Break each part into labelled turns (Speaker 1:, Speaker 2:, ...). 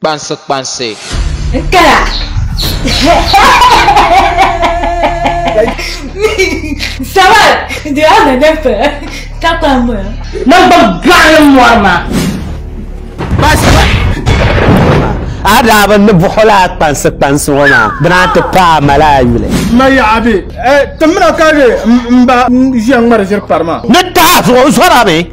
Speaker 1: kpansi
Speaker 2: kpansi. N kaya.
Speaker 3: Sabar di a na dɛm pɛ ka kpa n bɔya. Na gba
Speaker 1: gbaɣili mɔri maa. Kpansi. A daa bi ni buɣil a kpansi kpansi ŋɔ maa di naa ti paai a mali a yuli. Ma ya a
Speaker 4: bɛ. Timina ka di m ba ʒiya ŋmari ʒiri pari maa. Ni tahi zuɣu
Speaker 1: zɔra mi.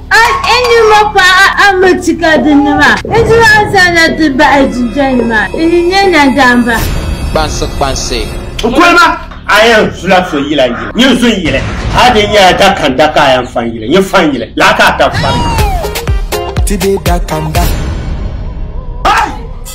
Speaker 3: A N
Speaker 5: ni ma paɣa a mi ti ka di ni ma. N ti ma n zaŋ na ti bahi jinja ni ma. N ni nyɛ nadamba. Kpansi kpansi.
Speaker 2: N kuli ma
Speaker 1: a yɛn zula so yila n yili. Nyin zun yili. A di nyɛla dakanda ka a yɛn fan yili. Nyin fan yili. Laa ka a tan fari. Ti
Speaker 6: be dakanda.